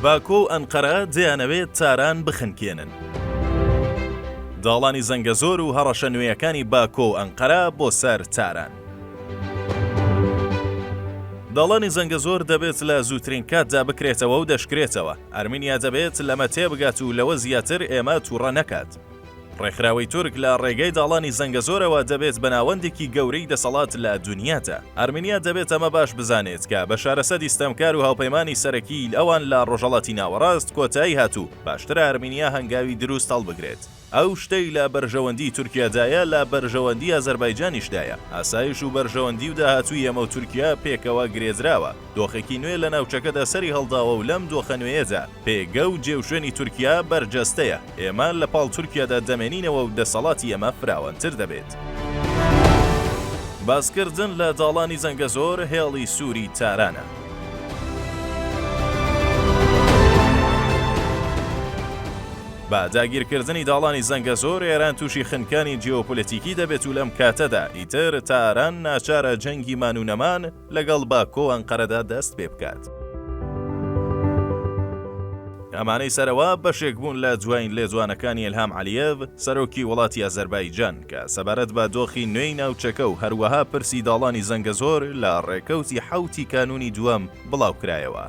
باکۆ و ئەنقەرە دەیانەوێت تاران بخنکێنن. داڵانی زەنگەزۆر و هەڕەشە نوێیەکانی باکۆ و ئەنقەرە بۆ سەر تاران. داڵانی زەنگەزۆر دەبێت لە زووترین کاتدا بکرێتەوە و دەشکرێتەوە. ئەرمینیا دەبێت لەمە تێبگات و لەوە زیاتر ئێمە تووڕە نەکات. ڕێکخراوەی تورک لە ڕێگەی داڵانی زەنگەزۆرەوە دەبێت بە ناوەندێکی گەورەی دەسەڵات لە دونیادا. ئەرمینیا دەبێت ئەمە باش بزانێت کە بەشار ئەسەدی ستەمکار و هاوپەیمانی سەرەکیی ئەوان لە ڕۆژهەڵاتی ناوەڕاست کۆتایی هات و باشترە ئەرمینیا هەنگاوی دروست هەڵبگرێت. ئەو شتەی لە بەرژەوەندیی تورکیادایە لە بەرژەوەندیی ئازەربایجانیشدایە. ئاسایش و بەرژەوەندی و داهاتووی ئێمە و تورکیا پێکەوە گرێدراوە. دۆخێکی نوێ لە ناوچەکەدا سەری هەڵداوە و لەم دۆخە نوێیەدا پێگە و جێوشوێنی تورکیا بەرجەستەیە. ئێمە لە پاڵ تورکیادا دەمێنینەوە و دەسەڵاتی ئێمە فراوانتر دەبێت. باسکردن لە داڵانی زەنگەزۆر هێڵی سووری تارانە. بە داگیرکردنی داڵانی زەنگەزۆر ئێران تووشی خنکانی جیۆپۆلەتیکی دەبێت و لەم کاتەدا ئیتر تاران ناچارە جەنگی مان و نەمان لەگەڵ باکۆ و ئەنقەرەدا دەست پێ بکات. ئەمانەی سەرەوە بەشێک بوون لە جوایین لێدوانەکانی ئیلهام عەلیێڤ، سەرۆکی وڵاتی ئازەربایجان کە سەبارەت بە دۆخی نوێی ناوچەکە و هەروەها پرسی داڵانی زەنگەزۆر لە ڕێکەوتی حەوتی کانوونی دووەم بڵاوکرایەوە.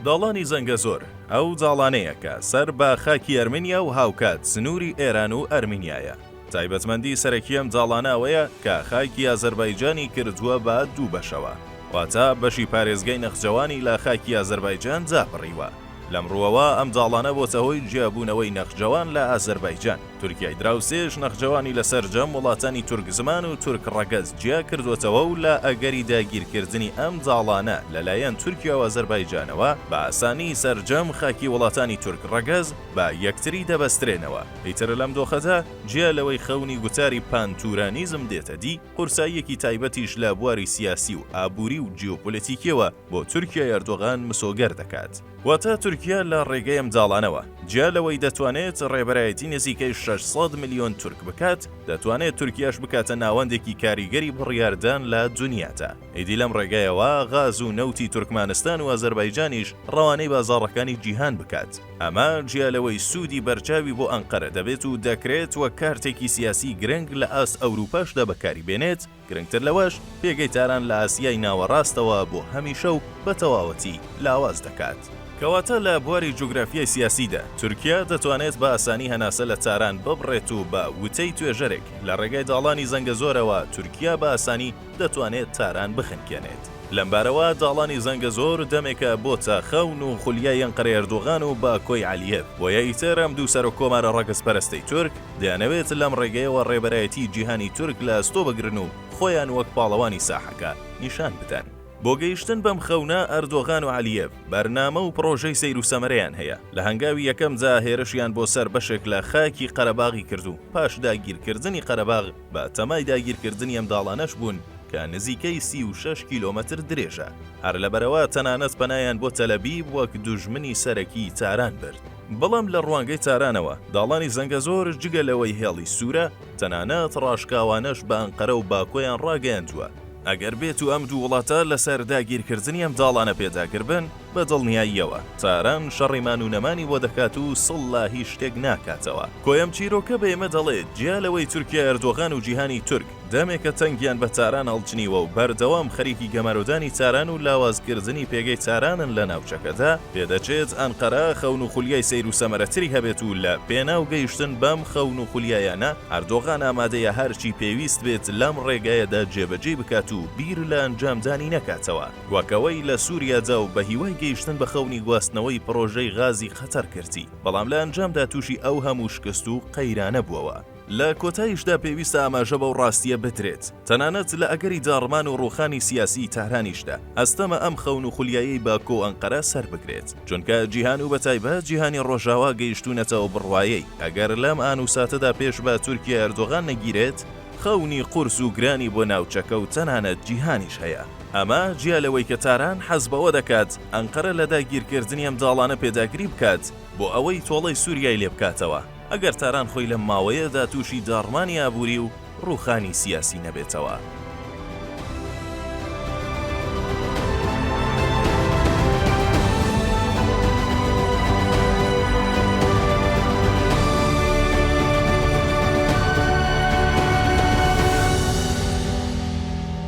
داڵانی زەنگەزۆر، ئەو داڵانەیە کە سەر بە خاکی ئەرمینیا و هاوکات سنووری ئێران و ئەرمینیایە. تایبەتمەندی سەرەکی ئەم زاڵانە ئەوەیە کە خاکی ئازەربایجانی کردووە بە دوو بەشەوە، واتە بەشی پارێزگای نەخجەوانی لە خاکی ئازەربایجان جابڕیوە. لەم ڕووەوە ئەم زاڵانە بۆتە هۆی جیابوونەوەی نەخجەوان لە ئازەربایجان. تورکیای دراوسێش نەخجەوانی لە سەرجەم وڵاتانی تورک زمان و تورک ڕەگەز جیا کردووەتەوە و لە ئەگەری داگیرکردنی ئەم زاڵانە لەلایەن تورکیا و ئازەربایجانەوە بە ئاسانی سەرجەم خاکی وڵاتانی تورک ڕەگەز بە یەکتری دەبەسترێنەوە، ئیتر لەم دۆخەدا جیا لەوەی خەونی گوتاری پانتورانیزم دێتە دی، قورساییەکی تایبەتیش لە بواری سیاسی و ئابووری و جیۆپۆلەتیکییەوە بۆ تورکیای ئەردۆغان مسۆگەر دەکات. واتە تورکیا لە ڕێگەی ئەم داڵانەوە، جیا لەوەی دەتوانێت ڕێبەرایەتی نزیکەی شەش سەد ملیۆن تورک بکات، دەتوانێت تورکیاش بکاتە ناوەندێکی کاریگەری بڕیاردان لە دونیادا. ئیدی لەم ڕێگەیەوە غاز و نەوتی تورکمانستان و ئازەربایجانیش ڕەوانەی بازاڕەکانی جیهان بکات. ئەمە جیا لەوەی سوودی بەرچاوی بۆ ئەنقەرە دەبێت و دەکرێت وەک کارتێکی سیاسی گرنگ لە ئاست ئەوروپاشدا بەکاری بێنێت، گرنگتر لەوەش پێگەی تاران لە ئاسیای ناوەڕاستەوە بۆ هەمیشە و بە تەواوەتی لاواز دەکات. کەواتە لە بواری جوگرافیای سیاسیدا، تورکیا دەتوانێت بە ئاسانی هەناسە لە تاران ببڕێت و بە وتەی توێژەرێک، لە ڕێگای داڵانی زەنگەزۆرەوە تورکیا بە ئاسانی، دەتوانێت تاران بخنکێنێت. لەمبارەوە داڵانی زەنگەزۆر دەمێکە بۆ تاخاون و خولیای ئەنقەرەی ئەردۆغان و باکۆی عەلیێڤ، بۆیە ئیتر ئەم دوو سەرۆککۆمارە ڕەگەزپەرەستەی تورک دەیانەوێت لەم ڕێگەیەوە ڕێبەرایەتیی جیهانی تورک لە ئەستۆ بگرن و خۆیان وەک پاڵەوانی ساحەکە نیشان بدەن. بۆ گەیشتن بەم خەونە، ئەردۆغان و عەلیێڤ بەرنامە و پڕۆژەی سەیروسەمەرەیان هەیە. لە هەنگاوی یەکەمدا هێرشیان بۆ سەر بەشێک لە خاکی قەرەباغی کرد و پاش داگیرکردنی قەرەباغ، بە تەمای داگیرکردنی ئەم داڵانەش بوون کە نزیکەی سی و شەش کیلۆمەتر درێژە، هەر لەبەرەوە تەنانەت پەنایان بۆ تەلەبیب وەک دوژمنی سەرەکی تاران برد. بەڵام لە ڕوانگەی تارانەوە داڵانی زەنگەزۆر جگە لەوەی هێڵی سوورە، تەنانەت ڕاشکاوانەش بە ئەنقەرە و باکۆیان ڕاگەیاندووە ئەگەر بێتو ئەم دوو وڵاتە لەسەر داگیرکردنی ئەم داڵانە پێداگر بن، بە دڵنیاییەوە تاران شەڕی مان و نەمانی بۆ دەکات و سڵ لە هیچ شتێک ناکاتەوە. کۆیەم چیرۆکە بە ئێمە دەڵێت جیا لەوەی تورکیای ئەردۆغان و جیهانی تورک دەمێکە تەنگیان بە تاران هەڵچنیوە و بەردەوام خەریکی گەمارۆدانی تاران و لاوازکردنی پێگەی تارانن لە ناوچەکەدا، پێدەچێت ئەنقەرە خەون و خولیای سەیر و سەمەرەتری هەبێت و لە پێناو گەیشتن بەم خەون و خولیایانە ئەردۆغان ئامادەیە هەرچی پێویست بێت لەم ڕێگایەدا جێبەجێی بکات و بیر لە ئەنجامدانی نەکاتەوە. وەک ئەوەی لە سوریا جاو بە هیوای گەیشتن بە خەونی گواستنەوەی پڕۆژەی غازی قەتەر کردی بەڵام لە ئەنجامدا توشی ئەو هەموو شکست و قەیرانە بوەوە. لە کۆتایشدا پێویستە ئاماژە بەو ڕاستیە بدرێت تەنانەت لە ئەگەری داڕمان و ڕوخانی سیاسی تارانیشدا ئەستەمە ئەم خەون و خولیایەی باکۆ و ئەنقەرە سەر بگرێت چونکە جیهان و بە تایبەت جیهانی ڕۆژاوا گەیشتونەتە ئەو بڕوایەی ئەگەر لەم ئان و ساتەدا پێش بە تورکیای ئەردۆغان نەگیرێت خەونی قورس و گرانی بۆ ناوچەکە و تەنانەت جیهانیش هەیە. ئەمە جیا لەوەی کە تاران حەز بەوە دەکات ئەنقەرە لە داگیرکردنی ئەم داڵانە پێداگری بکات بۆ ئەوەی تۆڵەی سوریای لێ بکاتەوە، ئەگەر تاران خۆی لەم ماوەیەدا تووشی داڕمانی ئابووری و ڕووخانی سیاسی نەبێتەوە.